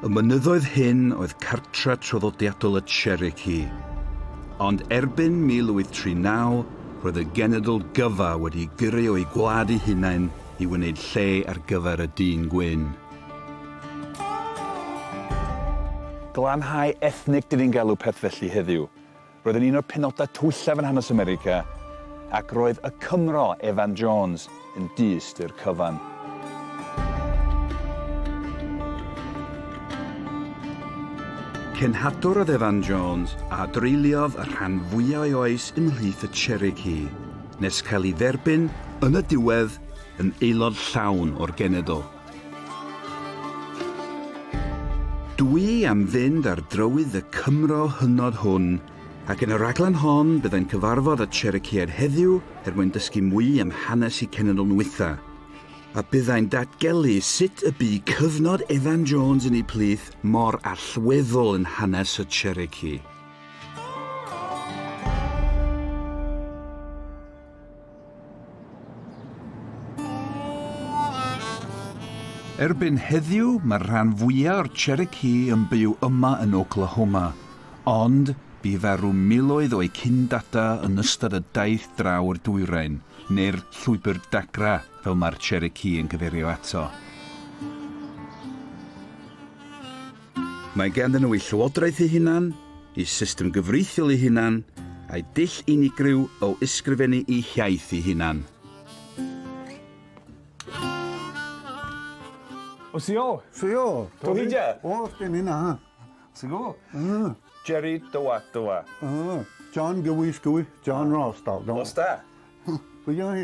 Y mynyddoedd hyn oedd cartre traddodiadol y Cherokee, ond erbyn 1839 roedd y genedl gyfa wedi gyrru o'u gwlad eu hunain i wneud lle ar gyfer y dyn gwyn. Glanhau ethnig dyn ni'n galw peth felly heddiw. Roedd yn un o'r penodau twyllaf yn hanes America, ac roedd y Cymro Evan Jones yn dyst i'r cyfan. Cenhadwr oedd Evan Jones a dreuliodd y rhan fwyaf o'i oes ymhlith y Cherokee, nes cael ei dderbyn yn y diwedd yn aelod llawn o'r genedl. Dwi am fynd ar drywydd y Cymro hynod hwn, ac yn y rhaglen hon byddai'n cyfarfod â Cherokeeaid heddiw er mwyn dysgu mwy am hanes y cenedl nwitha, a byddai'n datgelu sut y bu cyfnod Evan Jones yn eu plith mor allweddol yn hanes y Cherokee. Erbyn heddiw, mae'r rhan fwyaf o'r Cherokee yn byw yma yn Oklahoma, ond bu farw miloedd o'u cyn-dada yn ystod y daith draw i'r dwyrain, neu'r Llwybr Dagra fel mae'r Cherokee yn cyfeirio ato. Mae ganddyn nhw eu llywodraeth eu hunan, eu system gyfreithiol eu hunan, a'u dull unigryw o ysgrifennu eu hiaith eu hunan. O sio! Sio! Tony ja! O, sgen i na. Sigo? Mm. Jerry Dywa Dywa. Mm. John Gywi Sgwy, John Ross, dal. Os da? Pwy yna hi?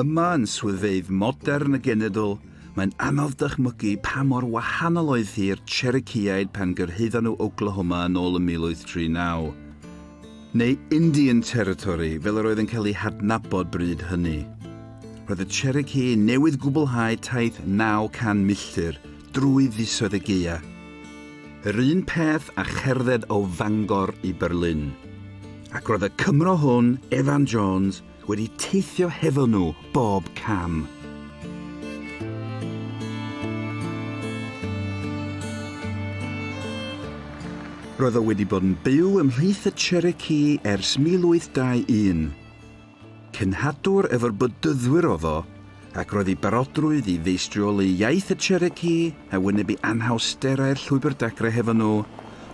Yma yn swyddfeydd modern y genedl, mae'n anodd dychmygu pa mor wahanol oedd hi i'r Cherokeeaid pan gyrhaeddon nhw Oklahoma yn ôl yn 1839. Neu Indian Territory, fel yr oedd yn cael ei hadnabod bryd hynny. Roedd y Cherokee newydd gwblhau taith 900 milltir drwy fisoedd y gaea. Yr un peth a cherdded o Fangor i Berlin. Ac roedd y Cymro hwn, Evan Jones, wedi teithio hefo nhw bob cam. Roedd o wedi bod yn byw ymhlith y Cherokee ers 1821. Cenhadwr efo'r Bedyddwyr oedd o, ac roedd ei barodrwydd i feistrioli iaith y Cherokee a wynebu anhawsterau'r Llwybr Dacre hefo nhw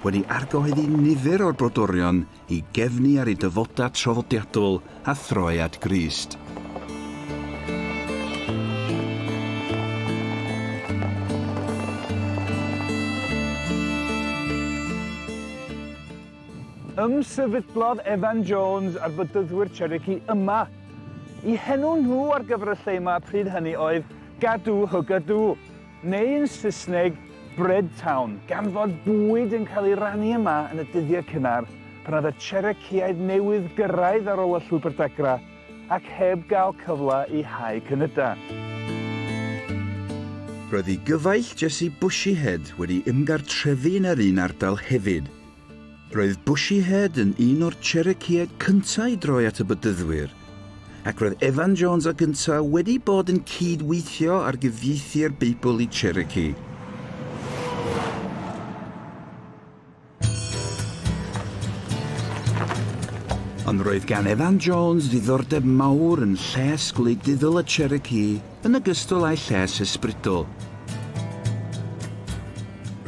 wedi argyhoeddi nifer o'r brodorion i gefnu ar eu dyfodau traddodiadol a throi at Grist. Ymsefydlodd Evan Jones a'r Bedyddwyr Cherokee yma. Y henw nhw ar gyfer y lle yma pryd hynny oedd Gadoohoogadoo, neu yn Saesneg, Bread Town, gan fod bwyd yn cael ei rannu yma yn y dyddiau cynnar pan oedd y Cherokeeaid newydd gyrraedd ar ôl y Llwybr Dagra ac heb gael cyfle i hau cynydau. Roedd y gyfaill Jessie Bushyhead wedi ymgartrefu yn yr un ardal hefyd. Roedd Bushyhead yn un o'r Cherokeeaid cyntaf i droi at y Bedyddwyr, ac roedd Evan Jones a gyntaf wedi bod yn cyd-weithio ar gyfieithu'r Beibl i Cherokee. Ond roedd gan Evan Jones ddiddordeb mawr yn lles gwleidyddol y Cherokee, yn ogystal â'i lles ysbrydol.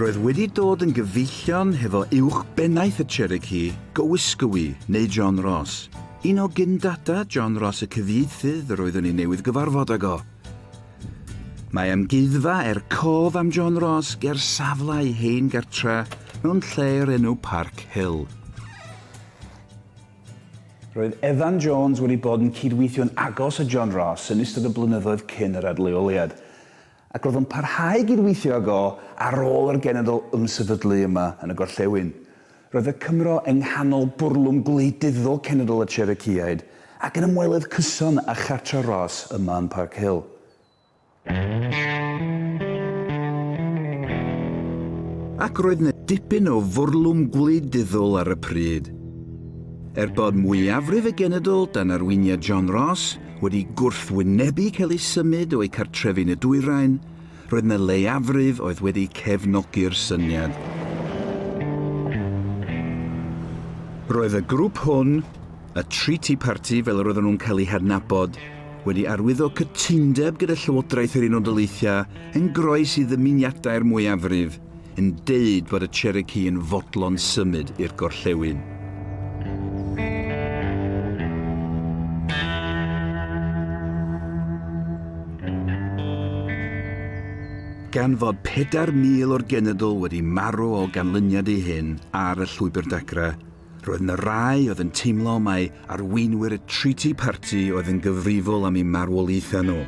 Roedd wedi dod yn gyfeillion hefo uwch bennaeth y Cherokee, Gowysgowy, neu John Ross, un o gyn-data John Ross y cyfieithydd yr oeddwn i newydd gyfarfod ag o. Mae amgueddfa er cof am John Ross ger safle ei hen gartre mewn lle o'r enw Park Hill. Roedd Evan Jones wedi bod yn cydweithio'n agos â John Ross yn ystod y blynyddoedd cyn yr adleoliad, ac roedd o'n parhau i gydweithio ag o ar ôl i'r genedl ymsefydlu yma yn y gorllewin. Roedd y Cymro yng nghanol bwrlwm gwleidyddol cenedl y Cherokeeaid ac yn ymwelydd cyson â chartre Ross yma yn Park Hill. Ac roedd yna dipyn o fwrlwm gwleidyddol ar y pryd. Er bod mwyafrif y genedl dan arweiniad John Ross wedi gwrthwynebu cael eu symud o'u cartrefi yn y dwyrain, roedd yna leiafrif oedd wedi cefnogi'r syniad. Roedd y grŵp hwn, Y Tri Tea Party, fel yr oedden nhw'n cael eu hadnabod, wedi arwyddo cytundeb gyda Llywodraeth yr Unol Daleithiau yn groes i ddymuniadau'r mwyafrif, yn deud bod y Cherokee yn fodlon symud i'r gorllewin. Gan fod 4,000 o'r genedl wedi marw o ganlyniad i hyn ar y Llwybr Dagra, Roedd yna rai oedd yn teimlo mai arweinwyr y Treaty Party oedd yn gyfrifol am eu marwolaethau nhw,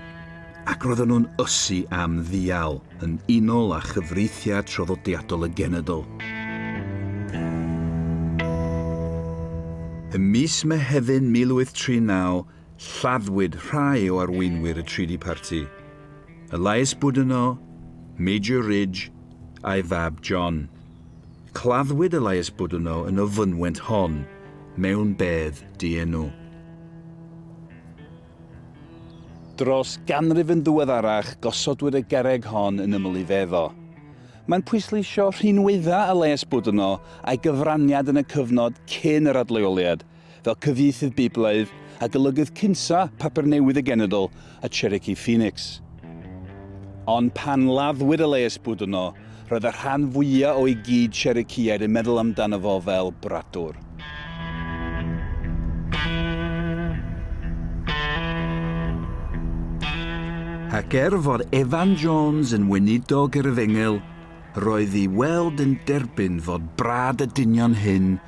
ac roedden nhw'n ysu am ddial, yn unol â chyfreithiau traddodiadol y genedl. Ym mis Mehefin 1839, lladdwyd rhai o arweinwyr y Treaty Party, Elias Boudinot, Major Ridge, a'i fab John. Claddwyd Elias Boudouno yn y fynwent hon mewn bedd dienw. Dros ganrif yn ddiweddarach gosodwyd y gerrig hon yn ymyl ei fedd o. Mae'n pwysleisio rhinweddau Elias Boudouno a'i gyfraniad yn y cyfnod cyn yr adleoliad, fel cyfieithydd Beiblaidd a golygydd cynta Papur Newydd y Genedl a Cherokee Phoenix. Ond pan laddwyd y leiesbwd yno, roedd y rhan fwyaf o'i gyd Cherokeeaid yn meddwl amdano fo fel bradwr. Ac er fod Evan Jones yn weinidog yr efengyl, roedd i weld yn derbyn fod brad y dynion hyn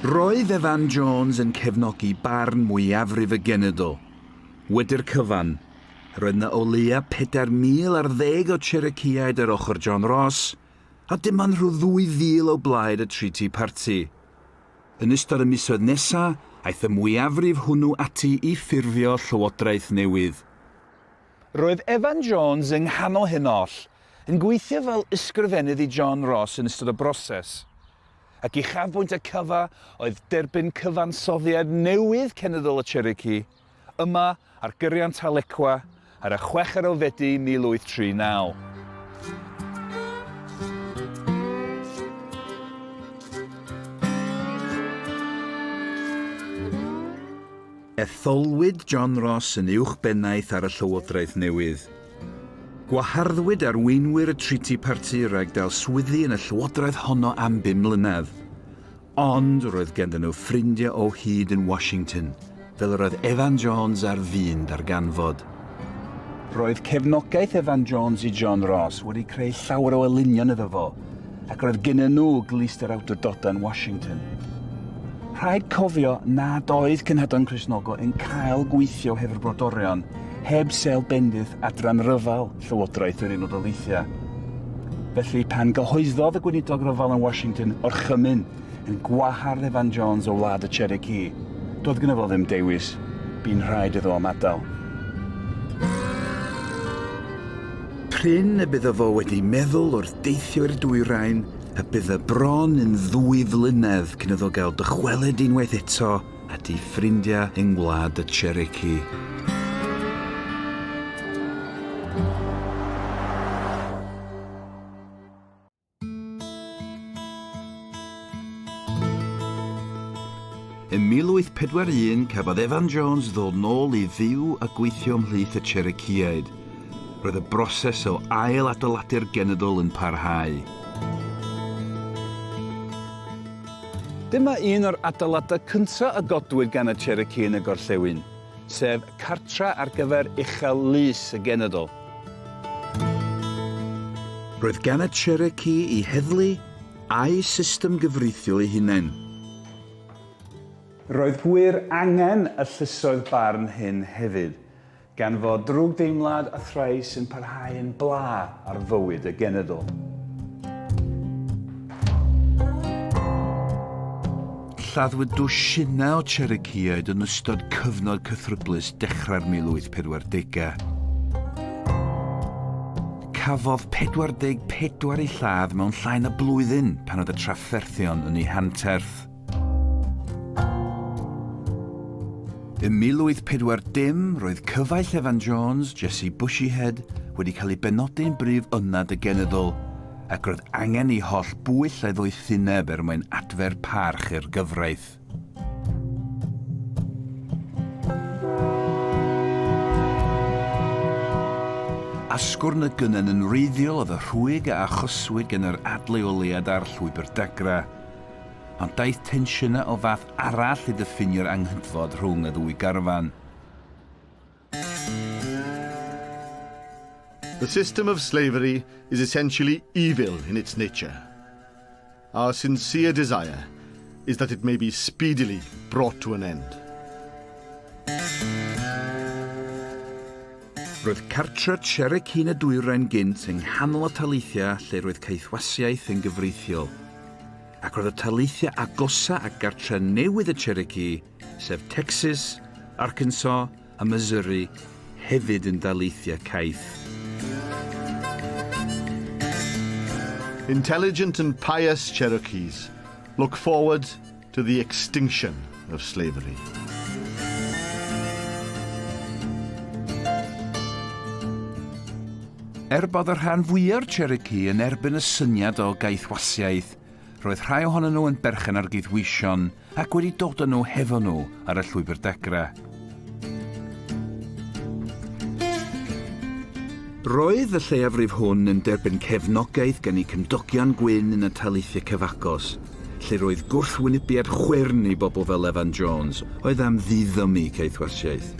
Roedd Evan Jones yn cefnogi barn mwyafrif y genedl. Wedi'r cyfan, roedd 'na o leia' pedair mil ar ddeg o Cherokeeaid ar ochr John Ross, a dim ond rhyw ddwy fil o blaid y Tri Tea Party. Yn ystod y misoedd nesa', aeth y mwyafrif hwnnw ati i ffurfio llywodraeth newydd. Roedd Evan Jones yng nghanol hyn oll, yn gweithio fel ysgrifennydd i John Ross yn ystod y broses. Ac uchafbwynt y cyfa oedd derbyn cyfansoddiad newydd cenedl y Cherokee, yma ar gyriant Tahlequah ar y chweched o Fedi 1839. Etholwyd John Ross yn uwchbennaeth ar y llywodraeth newydd. Gwaharddwyd arweinwyr y Treaty Party rhag dal swyddi yn y llywodraeth honno am bum mlynedd. Ond roedd ganddyn nhw ffrindiau o hyd yn Washington, fel yr oedd Evan Jones ar fin darganfod. Roedd cefnogaeth Evan Jones i John Ross wedi creu llawer o elynion iddo fo, ac roedd gynnyn nhw glust yr awdurdodau yn Washington. Rhaid cofio nad oedd Cenhedloedd Cristnogol yn cael gweithio heb yr brodorion, heb sel bendith adran ryfel Llywodraeth yr Unol Daleithiau. Felly, pan gyhoeddodd y gweinidog ryfel yn Washington o'r chymyn yn gwahardd Evan Jones o wlad y Cherokee, doedd gyda fo ddim dewis, bu'n rhaid iddo am adael. Prin y byddo fo wedi meddwl wrth deithio i'r dwyrain y byddo bron yn ddwy flynedd cyn iddo gael dychwelyd unwaith eto at ei ffrindiau yng Ngwlad y Cherokee. Ym 1841 cafodd Evan Jones ddod nôl i fyw a gweithio ymhlith y Cherokeeaid. Roedd y broses o ail adeiladu'r genedl yn parhau. Dyma un o'r adeiladau cyntaf a godwyd gan y Cherokee yn y gorllewin. sef cartref ar gyfer uchel lys y genedl. Roedd gan y Cherokee'i heddlu a'u system gyfreithiol eu hunain. Roedd gwir angen y llysoedd barn hyn hefyd, gan fod drwgdeimlad a thrais yn parhau yn bla ar fywyd y genedl. Lladdwyd dwsinau o Cherokeeaid yn ystod cyfnod cythryblus dechrau'r 1840au. Cafodd 44 eu lladd mewn llai na blwyddyn pan oedd y trafferthion yn eu hanterth. Ym 1840, roedd cyfaill Evan Jones, Jessie Bushyhead, wedi cael ei benodi'n brif ynad y genyddol, ac roedd angen i holl bwyll ei ddoethineb er mwyn adfer parch i'r gyfraith. Asgwrn y gynnen yn wreiddiol oedd y rhwyg a achoswyd gan yr adleoliad a'r llwybr dagra, ond daeth tensiynau o fath arall i ddiffinio'r anghydfod rhwng y ddwy garfan. The system of slavery is essentially evil in its nature. Our sincere desire is that it may be speedily brought to an end. Roedd cartre Cherec Hun y Dwyrain gynt yng nghanol y taleithiau lle roedd caethwasiaeth yn gyfreithiol, ac roedd y taleithiau agosa a gartre newydd y Cherokee sef Texas, Arkansas a Missouri, hefyd yn daleithiau caeth. Intelligent and pious Cherokees look forward to the extinction of slavery. Er bod y rhan fwya'r Cherokee yn erbyn y syniad o gaethwasiaeth, Roedd rhai ohonyn nhw yn berchen ar gydweision ac wedi dod â nhw hefo nhw ar y llwybr degra. Roedd y lleiafrif hwn yn derbyn cefnogaeth gan eu cymdogion gwyn yn y taleithiau cyfagos, lle roedd gwrthwynebiad chwyrn i bobl fel Evan Jones, oedd am ddiddymu caethwasiaeth.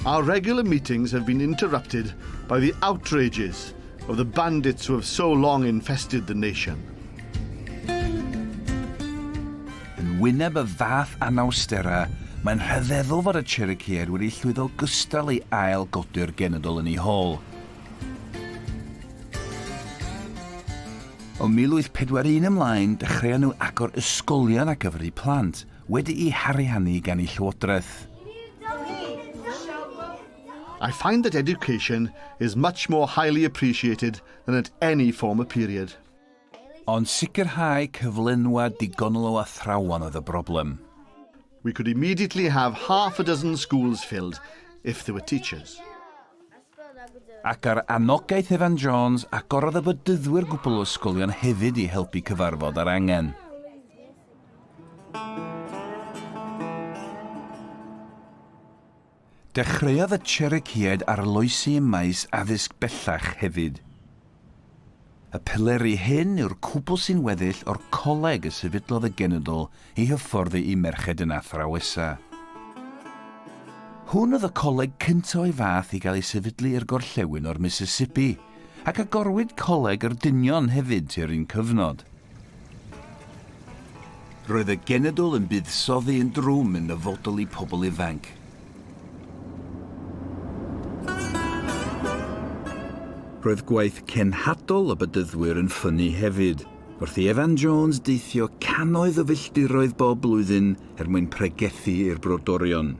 Our regular meetings have been interrupted by the outrages of the bandits who have so long infested the nation. Yn wyneb y fath anawsterau, mae'n rhyfeddol fod y Cherokee wedi llwyddo gystal i ail godi'r genedl yn ei hol. O 1841 ymlaen, dechreuon nhw agor ysgolion a gyfri plant, wedi'i hariannu gan ei llywodraeth. I find that education is much more highly appreciated than at any former period. Ond sicrhau cyflenwad digonol o athrawon oedd y broblem. We could immediately have half a dozen schools filled if there were teachers. Ac ar anogaeth Evan Jones, agorodd y bedyddwyr gwbl o ysgolion hefyd i helpu cyfarfod ar angen. Dechreuodd y Cherokee-aid arloesi ym maes addysg bellach hefyd. Y pileri hyn yw'r cwbl sy'n weddill o'r coleg y sefydlodd y genedl i hyfforddi ei merched yn athrawesa. Hwn oedd y coleg cyntaf o'i fath i gael ei sefydlu i'r gorllewin o'r Mississippi, ac agorwyd Coleg yr Dynion hefyd tua'r un cyfnod. Roedd y genedl yn buddsoddi yn drwm yn nyfodol i pobl ifanc. Roedd gwaith cenhadol y bedyddwyr yn ffynnu hefyd, wrth i Evan Jones deithio cannoedd o filltiroedd bob blwyddyn er mwyn pregethu i'r brodorion.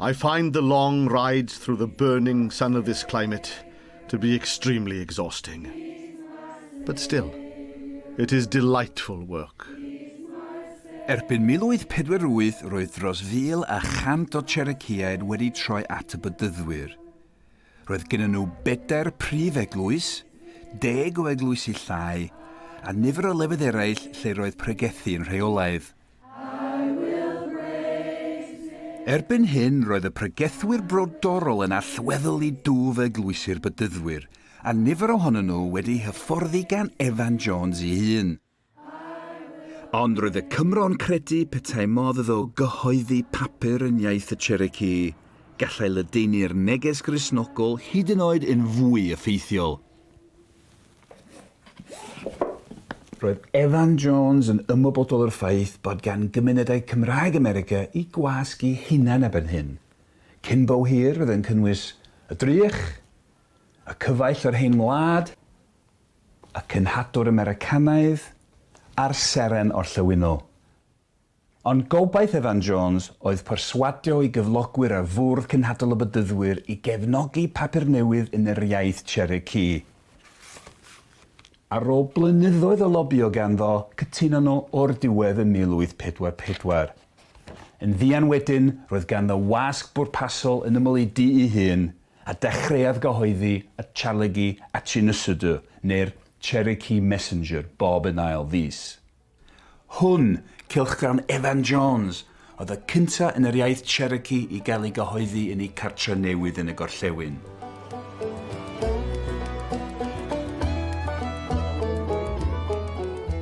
I find the long rides through the burning sun of this climate to be extremely exhausting. But still, it is delightful work. Erbyn 1048 roedd dros 1,100 o Cherokeeaid wedi troi at y Bedyddwyr. Roedd gennyn nhw bedair prif eglwys, deg o eglwysi llai, a nifer o lefydd eraill lle roedd pregethu yn rheolaidd. Erbyn hyn roedd y pregethwyr brodorol yn allweddol i dwf eglwysi'r Bedyddwyr, a nifer ohonyn nhw wedi'u hyfforddi gan Evan Jones ei hun. Ond roedd y Cymro'n credu petai modd iddo gyhoeddi papur yn iaith y Cherokee, gallai ledaenu'r neges Gristnogol hyd yn oed yn fwy effeithiol. Roedd Evan Jones yn ymwybodol o'r ffaith bod gan gymunedau Cymraeg America i gwasg eu hunain erbyn hyn. Cyn bo hir fydd yn cynnwys y drych, y cyfaill o'r hen wlad, y cenhadwr Americanaidd, a'r seren orllewinol. Ond gobaith Evan Jones oedd perswadio ei gyflogwyr ar Fwrdd Cenhadol y Bedyddwyr i gefnogi papur newydd yn yr iaith Cherokee. Ar ôl blynyddoedd o lobïo ganddo, cytunon nhw o'r diwedd ym 1844. Yn fuan wedyn, roedd ganddo wasg bwrpasol yn ymyl ei du'i hun, a dechreuodd gyhoeddi y Charlegui Atchinusudu, neu'r Cherokee Messenger, bob yn ail fis. Hwn, cylchgrawn Evan Jones, oedd y cyntaf yn yr iaith Cherokee i gael ei gyhoeddi yn eu cartref newydd yn y gorllewin.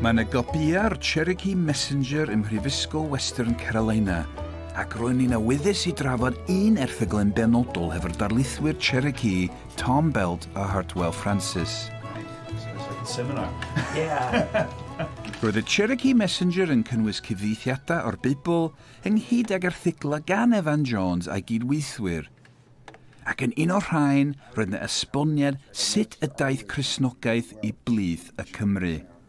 Mae yna gopïau'r Cherokee Messenger ym Mhrifysgol Western Carolina, ac ro'n i'n awyddus i drafod un erthygl yn benodol hefo'r darlithwyr Cherokee Tom Belt a Hartwell Francis. Roedd y Cherokee Messenger yn cynnwys cyfieithiadau o'r Beibl ynghyd ag erthyglau gan Evan Jones a'i gydweithwyr, ac yn un o'r rhain roedd 'na esboniad sut y daeth Cristnogaeth i blith y Cymry.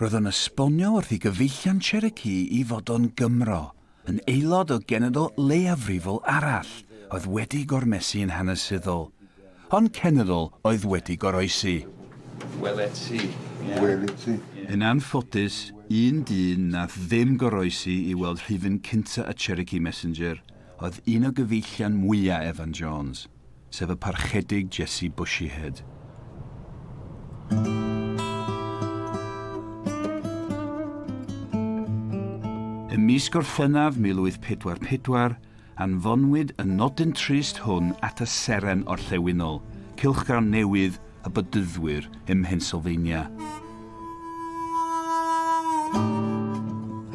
Roedd o'n esbonio wrth i gyfeillion Cherokee i fod o'n Gymro, yn aelod o genedl leiafrifol arall oedd wedi gormesu yn hanesyddol, ond cenedl oedd wedi goroesi. Welet ti. Welet ti. Yn anffodus, un dyn nath ddim goroesi i weld rhifyn cynta y Cherokee Messenger oedd un o gyfeillion mwya Evan Jones. sef y Parchedig Jessie Bushyhead. Ym mis Gorffennaf 1844, anfonwyd y nodyn trist hwn at y seren orllewinol, cylchgrawn newydd y bydyddwyr ym Mhennsylvania.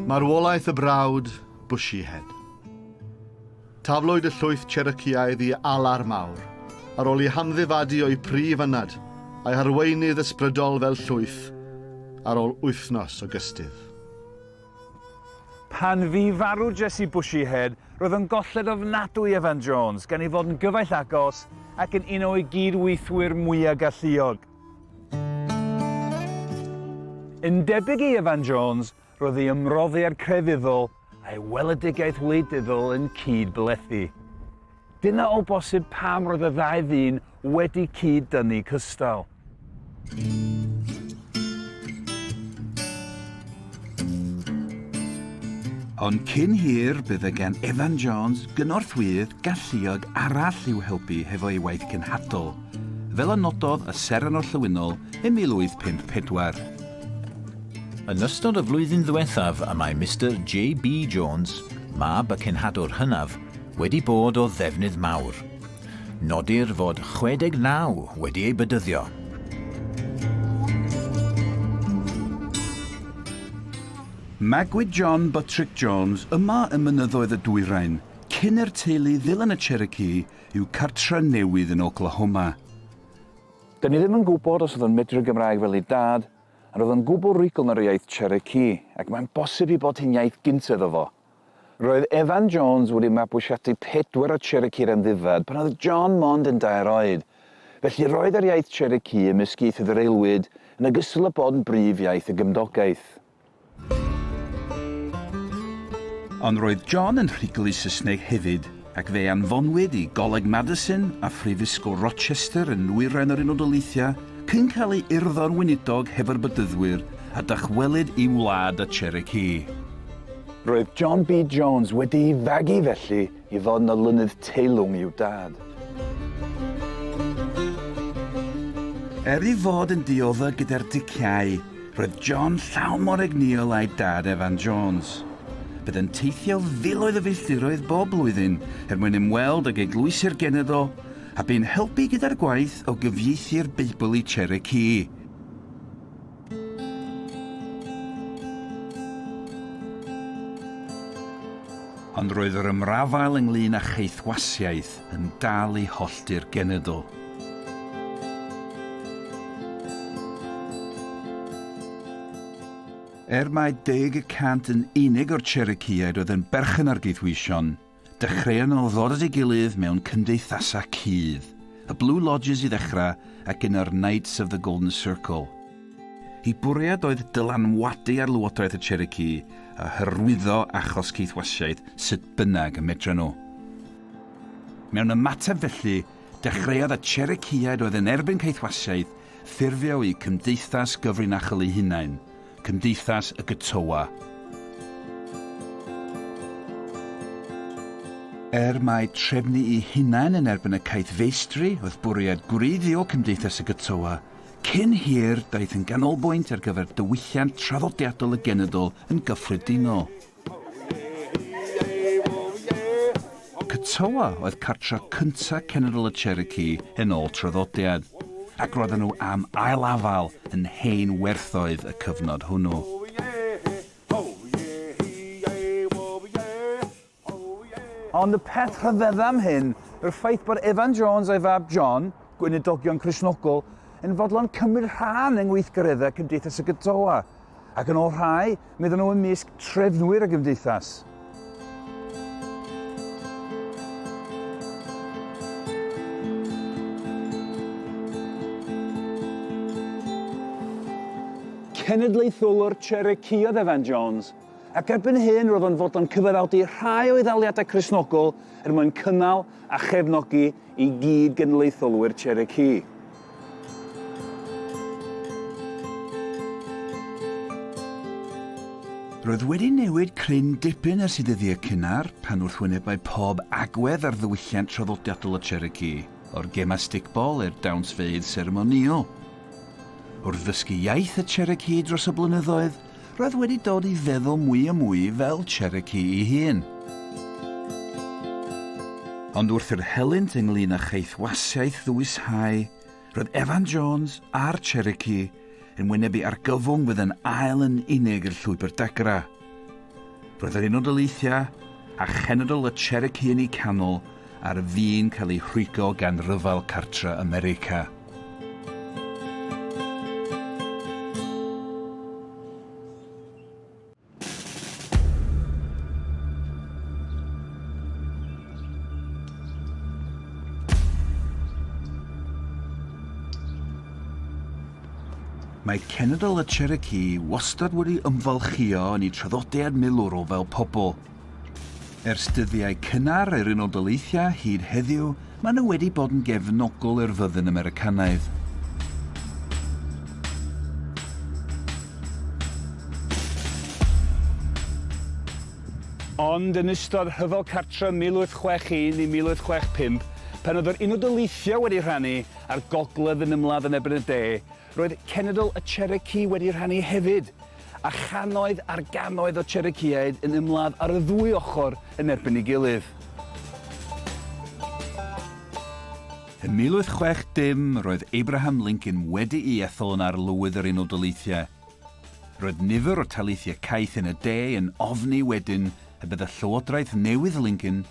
Marwolaeth y brawd Bushyhead. Taflwyd y llwyth Cherokeeaidd i alar mawr, ar ôl i hamddifadu o'u prif ynad a'i harweinydd ysbrydol fel llwyth, ar ôl wythnos o gystudd. Pan fu farw Jessie Bushyhead, roedd o'n golled ofnadwy Evan Jones, gan ei fod yn gyfaill agos ac yn un o'i gyd-weithwyr mwya' galluog. Yn debyg i Evan Jones, Roedd ei ymroddiad crefyddol a'i weledigaeth wleidyddol yn cyd-blethu. Dyna o bosib pam roedd y ddau ddyn wedi cyd-dynnu cystal. Ond cyn hir, bydd y gan Evan Jones gynorthwyydd galluog arall i'w helpu hefo ei waith cenhadol, fel y nododd y Seren Orllewinol yn 1854. Yn ystod y flwyddyn ddiwethaf y mae Mister JB Jones, mab y cenhadwr hynaf, wedi bod o ddefnydd mawr. Nodir fod 69 wedi ei bedyddio. Magwyd John Buttrick Jones yma ym mynyddoedd y dwyrain, cyn i'r teulu ddilyn y Cherokee i'w cartre' newydd yn Oklahoma. Do'n i ddim yn gwybod os oedd o'n medru Gymraeg fel ei dad, a roedd o'n gwbl rugl ar yr iaith Cherokee, ac mae'n bosib ei bod hi'n iaith gynt iddo fo. Roedd Evan Jones wedi mabwysiadu pedwar o Cherokee'r amddifad pan oedd John mond yn dair oed, felly roedd yr iaith Cherokee ymysg ieithoedd yr aelwyd yn ogystal â bod yn brif iaith y gymdogaeth. Ond roedd John yn rhuglu Saesneg hefyd, ac fe anfonwyd i Goleg Madison a Phrifysgol Rochester yn nwyrain yr Unol Daleithiau cyn cael ei urddo'n weinidog hefo'r Bedyddwyr a dychwelyd i'w wlad y Cherokee. Roedd John B. Jones wedi'i fagu felly I fod yn olynydd teilwng i'w dad. Er ei fod yn dioddef gyda'r diciâu, roedd John llawn mor egnïol â'i dad Evan Jones. Byddai'n teithio filoedd o filltiroedd bob blwyddyn er mwyn ymweld ag eglwysi'r genedl, a bu'n helpu gyda'r gwaith o gyfieithu'r Beibl i Cherokee. Ond roedd yr ymrafael ynglŷn â cheithwasiaeth yn dal i hollti'r genedl. Er mai deg y cant yn unig o'r Cherokeeaid oedd yn berchen ar geithwysion, Dechreuon nhw ddod at ei gilydd mewn cymdeithasau cudd, y Blue Lodges i ddechrau ac yno'r Knights of the Golden Circle. Ei bwriad oedd dylanwadu ar lywodraeth y Cherokee a hyrwyddo achos Caethwasiaeth sut bynnag y medren nhw. Mewn ymateb felly, dechreuodd y Cherokeeaid oedd yn erbyn Caethwasiaeth ffurfio eu cymdeithas gyfrinachol eu hunain, Cymdeithas y Getowa. Er mai trefnu'i hunain yn erbyn y caethfeistri oedd bwriad gwreiddiol Cymdeithas y Getowa, cyn hir daeth yn ganolbwynt ar gyfer diwylliant traddodiadol y genedl yn gyffredinol. Katoa oedd cartref cyntaf Cenedl y Cherokee yn ôl traddodiad, ac roedden nhw am ail afael yn hen werthoedd y cyfnod hwnnw. Ond y peth rhyfedda am hyn yw'r ffaith bod Evan Jones a'i fab John, gweinidogion Cristnogol, yn fodlon cymryd rhan yng ngweithgareddau Cymdeithas y Katoa. ac yn ôl rhai, meddwn nhw ymysg trefnwyr y gymdeithas. cenedlaetholwr Cherokee oedd Evan Jones, ac erbyn hyn roedd o'n fodlon cyfaddawdu rhai o'i ddaliadau Cresnogol er mwyn cynnal a chefnogi i gyd genedlaetholwyr Cherokee. Roedd wedi newid cryn dipyn ers i ddyddiau cynnar, pan wrth wynebau pob agwedd ar ddiwylliant traddodiadol y Cherokee, o'r gemau stickball i'r dawnsfeydd seremonïol. Wrth ddysgu iaith y Cherokee dros y blynyddoedd, Roedd wedi dod i feddwl mwy a mwy fel Cherokee ei hun. Ond wrth i'r helynt ynglŷn â chaethwasiaeth ddwyshau, roedd Evan Jones a'r Cherokee yn wynebu argyfwng fydd yn ail yn unig i'r llwybr dagra. Roedd yr Unol Daleithiau a chenedl y Cherokee yn eu canol ar fin cael ei rhwygo gan Ryfel Cartref America. Mae Cenedl y Cherokee wastad wedi ymfalchïo yn ei traddodiad milwrol fel pobl. Ers dyddiau cynnar yr Unol Daleithiau hyd heddiw, maen nhw wedi bod yn gefnogol i'r fyddin Americanaidd. Ond yn ystod Rhyfel Cartref 1861 i 1865, pan oedd yr Unol Daleithiau wedi rhannu â'r Gogledd yn ymladd yn erbyn y De, Roedd cenedl y Cherokee wedi rhannu hefyd, a channoedd ar gannoedd o Cherokeeaid yn ymladd ar y ddwy ochr yn erbyn ei gilydd. Ym 1860, roedd Abraham Lincoln wedi'i ethol yn Arlywydd yr Unol Daleithiau. Roedd nifer o taleithiau caeth yn y de yn ofni wedyn y bydd y llywodraeth newydd Lincoln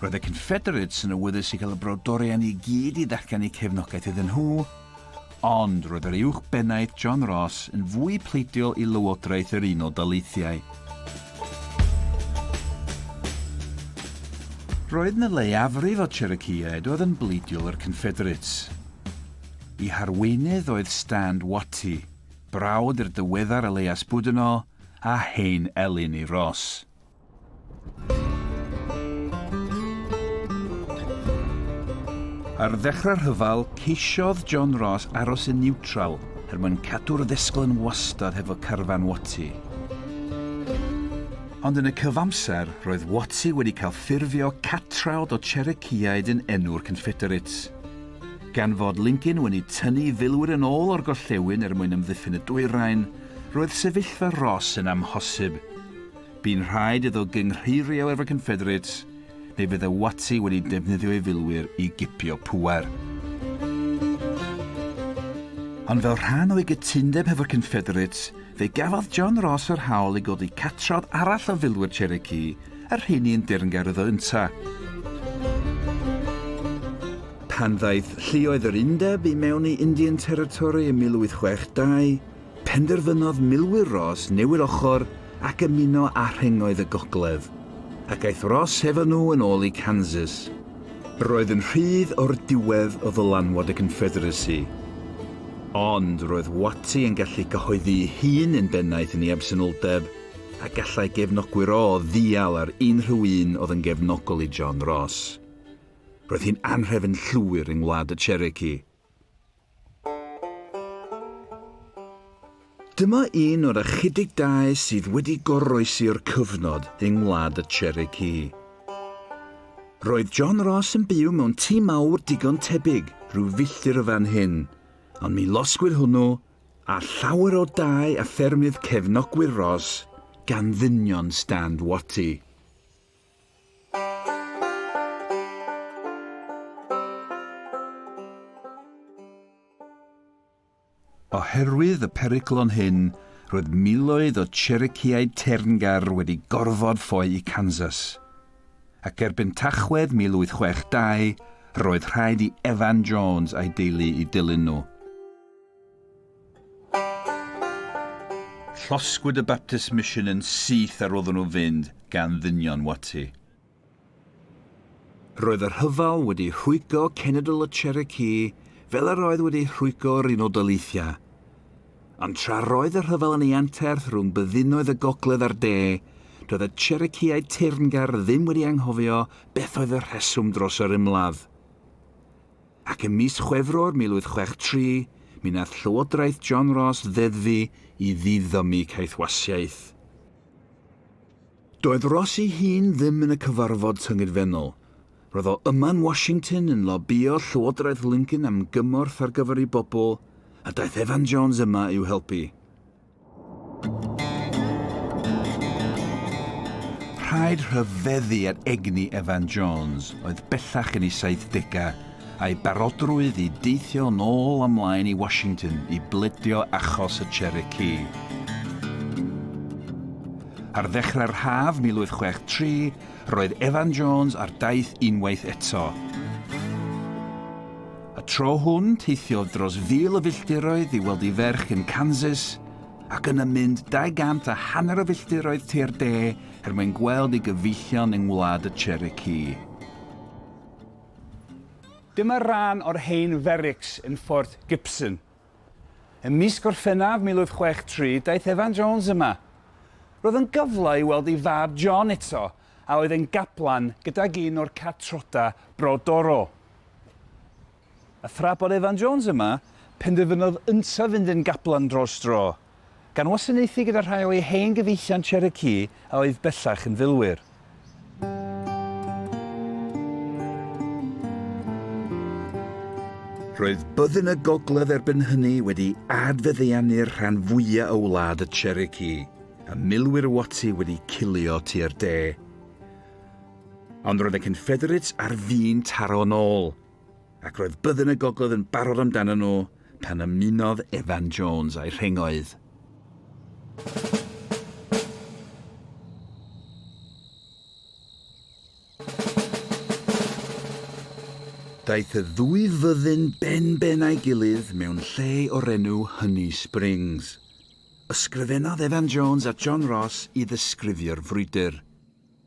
Roedd y Confederates yn awyddus i gael y brodorion i gyd i ddatganu cefnogaeth iddyn nhw, ond roedd yr Uwch Bennaeth John Ross yn fwy pleidiol i Lywodraeth yr Unol Daleithiau. Roedd na leiafrif o Cherokeeaid oedd yn bleidiol i'r Confederates. Y harweinydd oedd Stand Watie, brawd i'r diweddar Elias Boudinot a hen elyn i Ross. Ar ddechrau'r rhyfel, ceisiodd John Ross aros yn niwtral er mwyn cadw'r ddisgl yn wastad hefo carfan Watty. Ond yn y cyfamser, roedd Watty wedi cael ffurfio catrawd o Cherokeeaid yn enw'r Confederates. Gan fod Lincoln wedi tynnu filwyr yn ôl o'r gorllewin er mwyn amddiffyn y dwyrain, roedd sefyllfa Ross yn amhosib. Bu'n rhaid iddo gynghreirio efo'r Confederates neu fydde Watty wedi defnyddio ei filwyr i gipio pŵer. Ond fel rhan o'i gytundeb hefo'r Confederates, fe gafodd John Ross yr hawl i godi catrodd arall o filwyr Cherokee, y rheiny yn dirngaer iddo ynta. Pan ddaeth lluoedd yr Undeb i mewn i Indian Territory ym 1862, Penderfynodd milwyr Ross newid ochr ac ymuno â rhengoedd y gogledd, ac aeth Ross hefo nhw yn ôl i Kansas. Roedd yn rhydd o'r diwedd o ddylanwad y Confederacy, ond roedd Watty yn gallu cyhoeddi'i hun yn bennaeth yn ei absenoldeb, a gallai gefnogwyr Ross ddial ar unrhyw un oedd yn gefnogol i John Ross. Roedd hi'n anhrefn llwyr yng Ngwlad y Cherokee. Dyma un o'r ychydig dai sydd wedi goroesi o'r cyfnod yng Ngwlad y Cherokee. Roedd John Ross yn byw mewn tŷ mawr digon tebyg rhyw filltir o fan hyn, ond mi losgwyd hwnnw a llawer o dai a ffermydd cefnogwyr Ross gan ddynion Stand Watie. Oherwydd y peryglon hyn, roedd miloedd o Cherokeeaid teyrngar wedi gorfod ffoi i Kansas, ac erbyn Tachwedd 1862 roedd rhaid i Evan Jones a'i deulu i dilyn nhw. Llosgwyd y Baptist Mission yn syth ar oeddwn nhw fynd gan ddynion Watty. Roedd y rhyfel wedi rhwygo cenedl y Cherokee fel yr oedd wedi rhwygo yr Unol Daleithiau. Ond tra roedd y rhyfel yn ei anterth rhwng byddinoedd y gogledd a'r de, doedd y Cherokeeau teyrngar ddim wedi anghofio beth oedd y rheswm dros yr ymladd. Ac ym mis Chwefror 1863, mi wnaeth Llywodraeth John Ross ddeddfu i ddiddymu caethwasiaeth. Doedd Ross ei hun ddim yn y cyfarfod tyngedfennol. Roedd o yma yn Washington yn lobïo Llywodraeth Lincoln am gymorth ar gyfer ei bobl, a daeth Evan Jones yma i'w helpu. Rhaid rhyfeddu ar egni Evan Jones, oedd bellach yn ei 70au, a'i barodrwydd i deithio yn ôl a mlaen i Washington i bledio achos y Cherokee. Ar ddechrau'r haf 1863, roedd Evan Jones ar daith unwaith eto, Y tro hwn, teithiodd dros fil o filltiroedd i weld ei ferch yn Kansas, ac yna mynd 200 a hanner o filltiroedd tua'r de er mwyn gweld ei gyfeillion yng Ngwlad y Cherokee. Dyma ran o'r hen ferics yn Fort Gibson. Ym mis Gorffennaf 1863, daeth Evan Jones yma. Roedd yn gyfle i weld ei fab John eto, a oedd yn gaplan gydag un o'r catrodau brodorol. A thra bod Evan Jones yma, penderfynodd yntau fynd yn gaplan dros dro, gan wasanaethu gyda rhai o ei hen gyfeillion Cherokee a oedd bellach yn filwyr. Roedd byddin y gogledd erbyn hynny wedi adfeddeanu'r rhan fwyaf o wlad y Cherokee, a milwyr Watty wedi cilio tua'r de. Ond roedd y Confederates ar fin taro yn ôl, ac roedd byddin y gogledd yn barod amdanyn nhw pan ymunodd Evan Jones â'i rhengoedd. Daeth y ddwy fyddin ben-ben a'i gilydd mewn lle o'r enw Honey Springs. Ysgrifennodd Evan Jones a John Ross i ddisgrifio'r frwydr.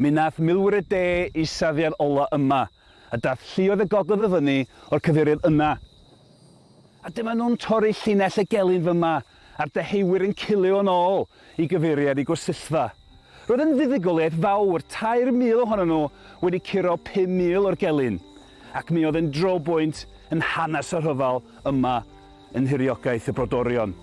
Mi wnaeth milwyr y de eu safiad ola yma, a daeth lluoedd y gogledd o fyny o'r cyfeiriad yna. A dyma nhw'n torri llinell y gelyn fyma, a'r deheuwyr yn cilio yn ôl i gyfeiriad y gwesyllfa. Roedd yn fuddugoliaeth fawr, 3,000 ohonyn nhw wedi curo 5,000 o'r gelyn, ac mi oedd yn drobwynt yn hanes y rhyfel yma yn nhiriogaeth y brodorion.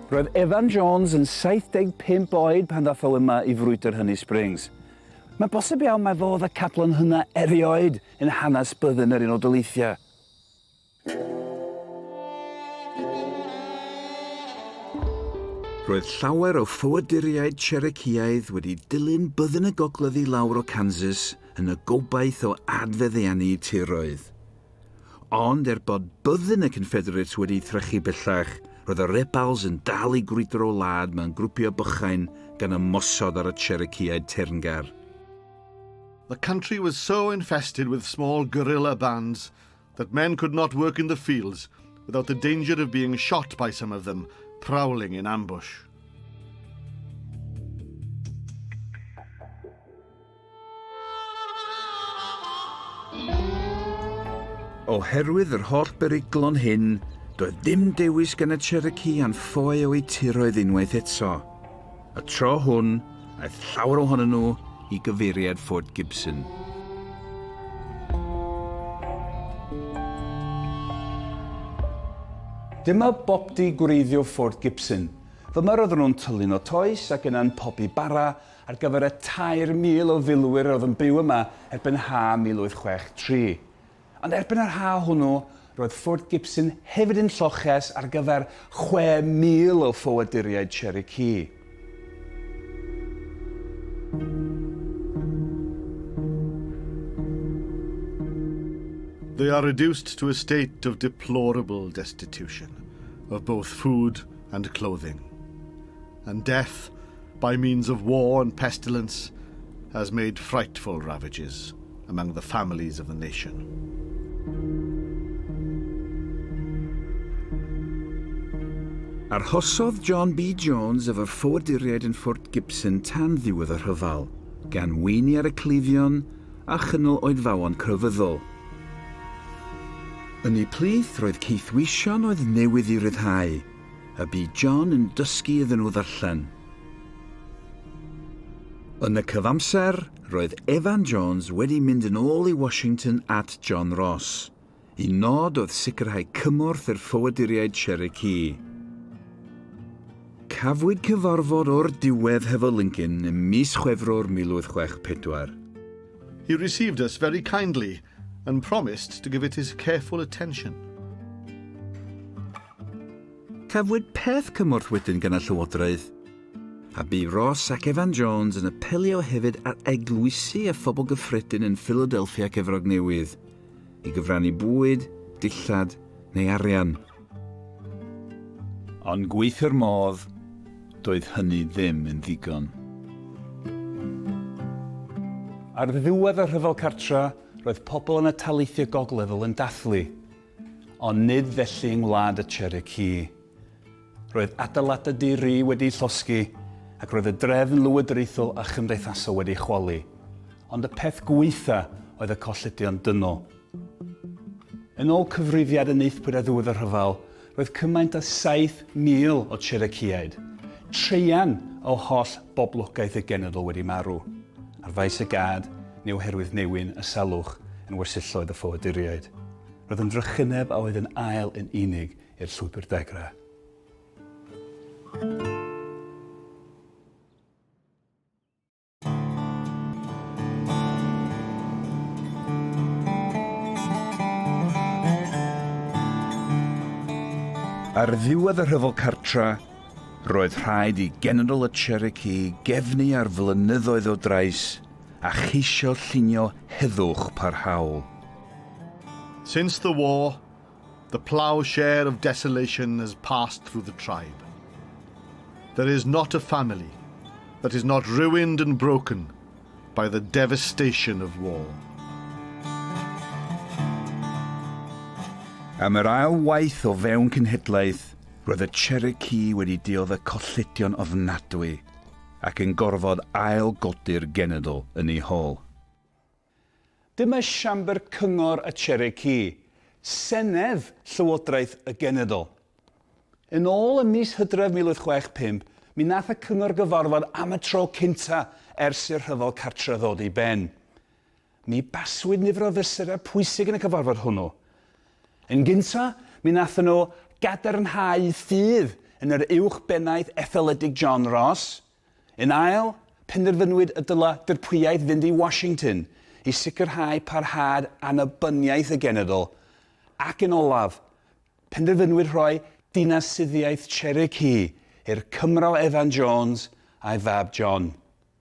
Roedd Evan Jones yn 75 oed pan ddath o yma i frwydr Hynny Springs. Mae'n bosib iawn mai fo oedd y cadlon hynna erioed yn hanes byddin yr Unol Daleithiau. Roedd llawer o ffoaduriaid Cherokeeaidd wedi dilyn byddin y gogledd i lawr o Kansas yn y gobaith o adfeddiannu tiroedd. Ond er bod byddin y Confederates wedi trechu bellach, roedd y Rebels yn dal i grwydro wlad mewn grwpiau bychain gan ymosod ar y Cherokeeaid teyrngar. The country was so infested with small guerrilla bands that men could not work in the fields without the danger of being shot by some of them prowling in ambush. Oherwydd yr holl beryglon hyn, doedd dim dewis gan y Cherokee a'n ffoe o'u tiroedd unwaith eto. Y tro hwn, aeth llawer ohonyn nhw i gyfeiriad Fort Gibson. Dyma bopty gwreiddio Fort Gibson. Dyma roedden nhw'n tyllu'n o toes ac yna'n pobi bara ar gyfer y 3,000 o filwyr oedd yn byw yma erbyn ha 1863. Ond erbyn yr haf hwnnw, roedd Fort Gibson hefyd yn lloches ar gyfer 6,000 o ffoaduriaid Cherokee. They are reduced to a state of deplorable destitution of both food and clothing. and death by means of war and pestilence has made frightful ravages among the families of the nation. Arhosodd John B. Jones y ffoaduriaid yn Fort Gibson tan ddiwedd y rhyfel, gan weini ar y cleifion a chynnal oedfaon crefyddol. Yn eu plith roedd caethweision oedd newydd i ryddhau, y bu John yn dysgu iddyn nhw ddarllen. Yn y cyfamser, roedd Evan Jones wedi mynd yn ôl i Washington at John Ross. Y nod oedd sicrhau cymorth i'r ffoaduriaid Cherokee. Cafwyd cyfarfod o'r diwedd hefo Lincoln ym mis Chwefror 1864. He received us very kindly and promised to give it his careful attention. Cafwyd peth cymorth wedyn gan y Llywodraeth, a bu Ross ac Evan Jones yn apelio hefyd ar eglwysi a phobl gyffredin yn Philadelphia ac Efrog Newydd i gyfrannu bwyd, dillad neu arian. Ond gweithio'r modd, doedd hynny ddim yn ddigon. Ar ddiwedd y Rhyfel Cartref, roedd pobl yn y taleithiau gogledd-ŵyl yn dathlu Ond nid felly yng ngwlad y Cherokee. Roedd adeiladau di-ri wedi'u llosgi ac roedd y drefn lywodraethol a chymdeithasol wedi'i chwalu, ond y peth gwaetha' oedd y colledion dynol. Yn ôl cyfrifiad yn Nythpwyd ar ddiwedd y rhyfel, roedd cymaint â 7,000 o Cherokeeaid, traean o holl boblogaeth y genedl wedi marw. Ar faes y gad, neu oherwydd newyn y salwch yn wersylloedd y ffoaduriaid, roedd yn drychineb a oedd yn ael yn unig i'r llwybr dagra. Ar ddiwedd y rhyfel cartra, Roedd rhaid i General y Cherokee gefnu ar flynyddoedd o drais a cheisio llunio heddwch parhaol. Since the war, the ploughshare of desolation has passed through the tribe. There is not a family that is not ruined and broken by the devastation of war. Am yr ail waith o fewn cenhedlaeth, Roedd y Cherokee wedi diodde y colledion ofnadwy ac yn gorfod ail-godi'r genedl yn eu hol. Dyma siambr cyngor y Cherokee, senedd llywodraeth y genedl. Yn ôl ym mis Hydref 1865, mi wnaeth y cyngor gyfarfod am y tro cynta' ers i'r rhyfel cartre' ddod i ben. Mi baswyd nifer o fesurau pwysig yn y cyfarfod hwnnw. Yn gyntaf, mi wnaethon nhw gadarnhau ffydd yn yr Uwch Bennaeth Etholedig John Ross. Yn ail, penderfynwyd y dylai dirprwyaeth fynd i Washington i sicrhau parhad annibyniaeth y genedl, ac yn olaf, penderfynwyd rhoi dinasyddiaeth Cherokee i'r Cymro Evan Jones a'i fab John.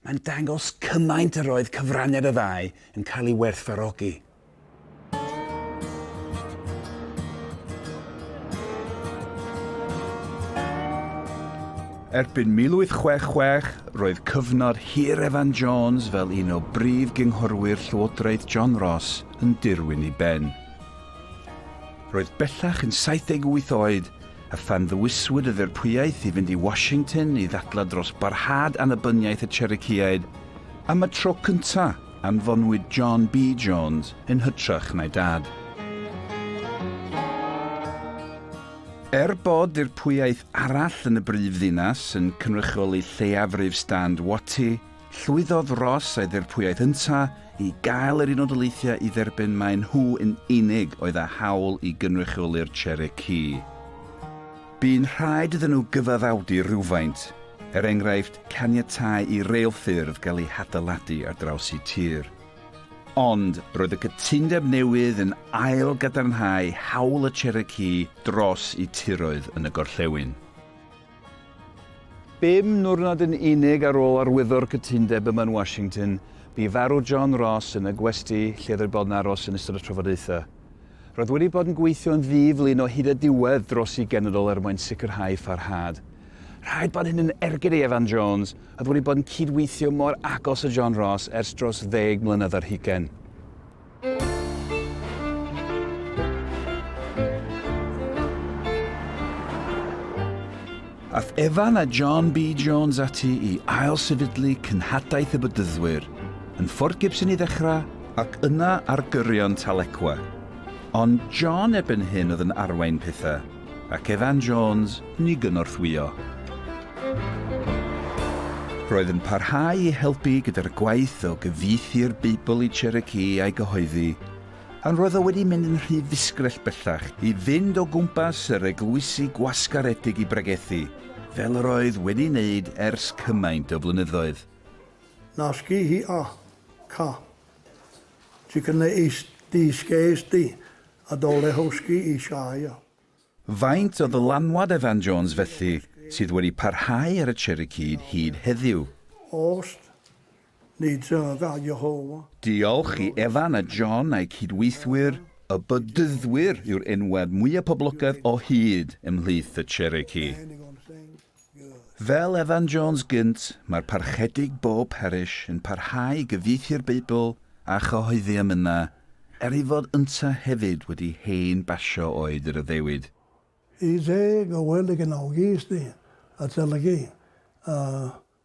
Mae'n dangos cymaint yr oedd cyfraniad y ddau yn cael ei werthfawrogi. Erbyn 1866, roedd cyfnod hir Evan Jones fel un o brif gynghorwyr Llywodraeth John Ross yn dirwyn i ben. Roedd bellach yn 78 oed a phan ddewiswyd y ddirprwyaeth i fynd i Washington i ddadlau dros barhad annibyniaeth y Cherokeeaid, am y tro cyntaf anfonwyd John B. Jones yn hytrach na'i dad. Er bod ddirprwyaeth arall yn y brif ddinas yn cynrychioli lleiafrif stand Watty, Llwyddodd Ross a'i ddirprwyaeth ynta i gael yr Unol Daleithiau i dderbyn mai nhw yn unig oedd â hawl i gynrychioli'r Cherokee. Bu'n rhaid iddyn nhw gyfaddawdu rhywfaint, er enghraifft caniatáu i reilffyrdd gael eu hadeiladu ar draws y tir. Ond roedd y cytundeb newydd yn ail gadarnhau hawl y Cherokee dros eu tiroedd yn y gorllewin. Bum niwrnod yn unig ar ôl arwyddo'r cytundeb yma yn Washington, bu farw John Ross yn y gwesty lle roedd bod yn aros yn ystod y trafodaethau. Roedd wedi bod yn gweithio'n ddi-flin o hyd a diwedd dros ei genedl er mwyn sicrhau pharhad. Rhaid bod hyn yn ergyd i Evan Jones, oedd wedi bod yn cyd-weithio mor agos â John Ross ers dros ddeg mlynedd ar hugain. Ath Evan a John B Jones ati i ail sefydlu Cynhadaeth y Bedyddwyr yn Fort Gibson i ddechrau, ac yna ar gyrion Tahlequah. Ond John erbyn hyn oedd yn arwain pethau. ac Evan Jones yn ei gynorthwyo. Roedd yn parhau i helpu gyda'r gwaith o gyfieithu'r Beibl i Cherokee a'i gyhoeddi, ond roedd o wedi mynd yn rhy ddisgrell bellach i fynd o gwmpas yr eglwysi gwasgaredig i bregethu, fel yr oedd wedi wneud ers cymaint o flynyddoedd. Nasci hi a ca. Ti cynna ei dysgais di, A do Lehowski i Shire. Faint o ddylanwad Evan Jones felly sydd wedi parhau ar y Cherokee hyd heddiw? Ost, ni dref a Jehofa. Diolch i Evan a John a'u cydweithwyr, y Bedyddwyr yw'r enwad mwya' poblogaidd o hyd ymhlith y Cherokee. Fel Evan Jones gynt, mae'r Parchedig bob parish yn parhau i gyfieithu'r Beibl a chyhoeddi amyna, er ei fod ynta hefyd wedi hen basio oed yr addewid. Y deg o wely gefnogi ysdi, adolygu, a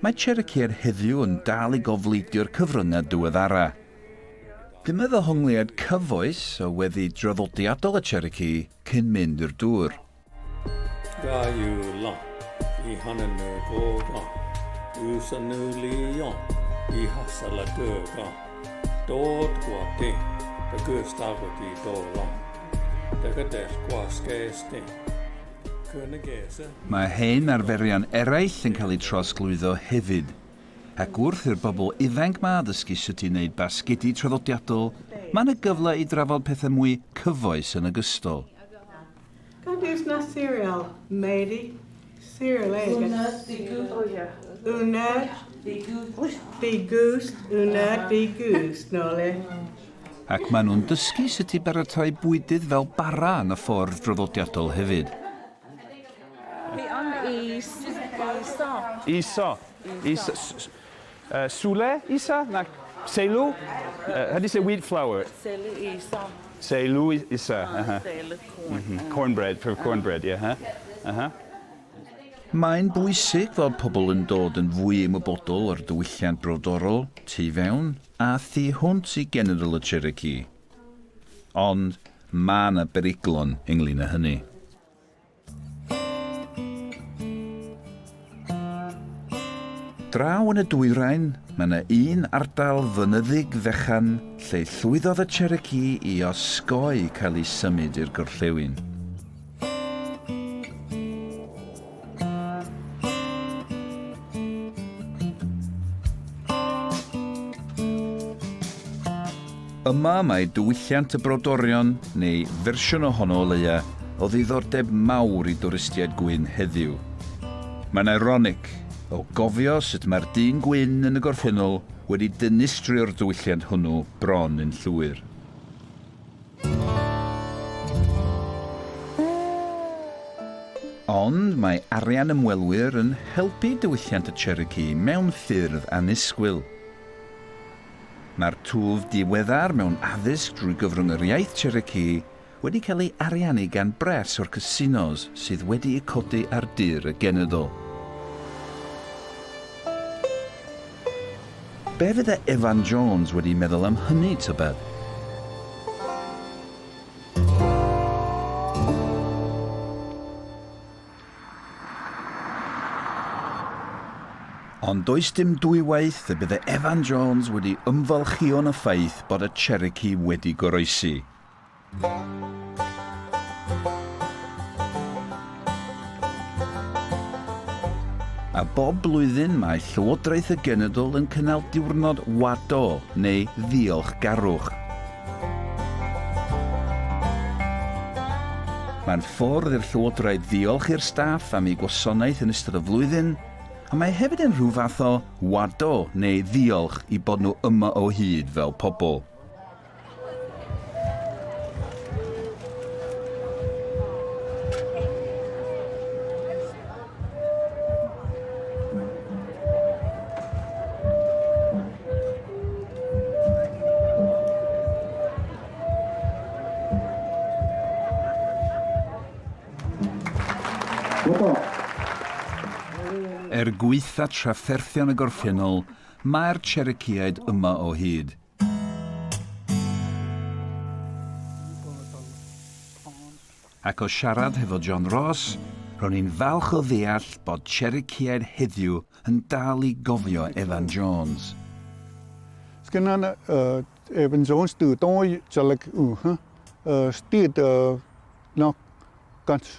Mae Cherrycare heddiw yn dal i gofleidio'r cyfryngau diweddara. Dyma ddehongliad cyfoes o weddi draddodiadol y Cherokee cyn mynd i'r dŵr. Ga you long i honyn nhw go go You son nhw li yong i hasal a dy go Dod gwa di dy gys dagwyd i do long Dy gydell gwa sges di Mae hen arferion eraill yn cael eu trawsglwyddo hefyd, ac wrth i'r bobl ifainc 'ma ddysgu sut i wneud basgedi traddodiadol, mae yna gyfle i drafod pethau mwy cyfoes yn ogystal. Ac maen nhw'n dysgu sut i baratoi bwydydd fel bara yn y ffordd draddodiadol hefyd. Fi am i iso. Iso. Is, s, uh, sule, isa? Na, selu? Uh, how do you say wheat flour? Selu isa. Selu isa. Uh, uh-huh. Selu corn. Mm -hmm. Cornbread, for cornbread, yeah. Uh -huh. Uh -huh. Mae'n bwysig fod pobl yn dod yn fwy ymwybodol o'r diwylliant brodorol, tu fewn, A thu hwnt i General y Cherokee. Ond ma' 'na beryglon ynglŷn â hynny. Draw yn y dwyrain, ma' 'na un ardal fynyddig fechan lle llwyddodd y Cherokee i osgoi cael eu symud i'r gorllewin. Yma mae diwylliant y brodorion, neu fersiwn ohono o leia, o ddiddordeb mawr i dwristiaid gwyn heddiw. Mae'n ironic, o gofio sut mae'r dyn gwyn yn y gorffennol wedi dynistrio'r diwylliant hwnnw bron yn llwyr. Ond mae arian ymwelwyr yn helpu diwylliant y Cherokee mewn ffyrdd annisgwyl. Mae'r twf diweddar mewn addysg drwy gyfrwng yr iaith Cherokee wedi cael ei ariannu gan bres o'r casinos sydd wedi'u codi ar dir y genedl. Be' fydde Evan Jones wedi meddwl am hynny, tybed? Ond does dim dwywaith y bydde Evan Jones wedi ymfalchïo'n y ffaith bod y Cherokee wedi goroesi. A bob blwyddyn mae Llywodraeth y Genedl yn cynnal diwrnod wado neu ddiolchgarwch. Mae'n ffordd i'r Llywodraeth ddiolch i'r staff am eu gwasanaeth yn ystod y flwyddyn, a mae hefyd yn rhyw fath o wado neu ddiolch i bod nhw yma o hyd fel pobl. Er gwaetha trafferthion y gorffennol, mae'r Cherokeeaid yma o hyd. Ac o siarad hefo John Ross, ro'n i'n falch o ddeall bod Cherokee-aid heddiw yn dal i gofio Evan Jones. Sgynnon Evan Jones dy doi jaleg yng ystyd y knock guts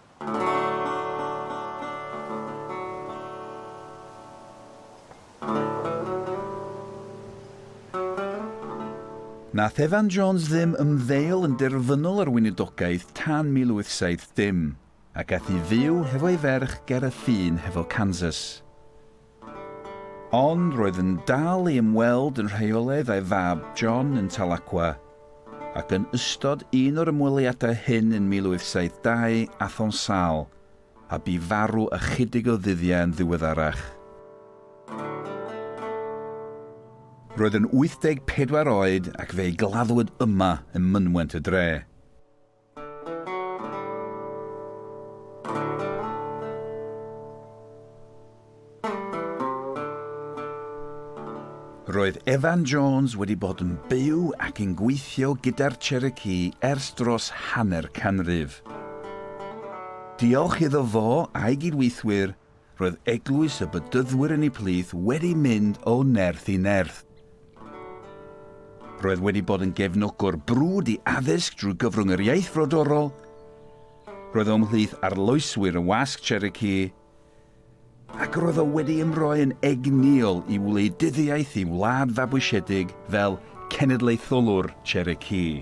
Nath Evan Jones ddim ymddeol yn derfynol ar weinidogaeth tan 1870, ac ath i fyw hefo'i ferch ger y ffin hefo Kansas. Ond roedd yn dal i ymweld yn rheolaidd â'i fab John yn Tahlequah, ac yn ystod un o'r ymweliadau hyn yn 1872 athon sâl, a bu farw ychydig o ddyddiau yn ddiweddarach. Roedd yn 84 oed ac fe'i gladdwyd yma ym mynwent y dre. Roedd Evan Jones wedi bod yn byw ac yn gweithio gyda'r Cherokee ers dros hanner canrif. Diolch iddo fo a'i gydweithwyr, Roedd eglwys y Bedyddwyr yn y plith wedi mynd o nerth i nerth. Roedd wedi bod yn gefnogwr brwd i addysg drwy gyfrwng yr iaith frodorol. Roedd o'm mhlith arloeswyr y wasg Cherokee, ac roedd o wedi ymroi yn egnïol i wleidyddiaeth i wlad fabwysiedig fel cenedlaetholwr Cherokee.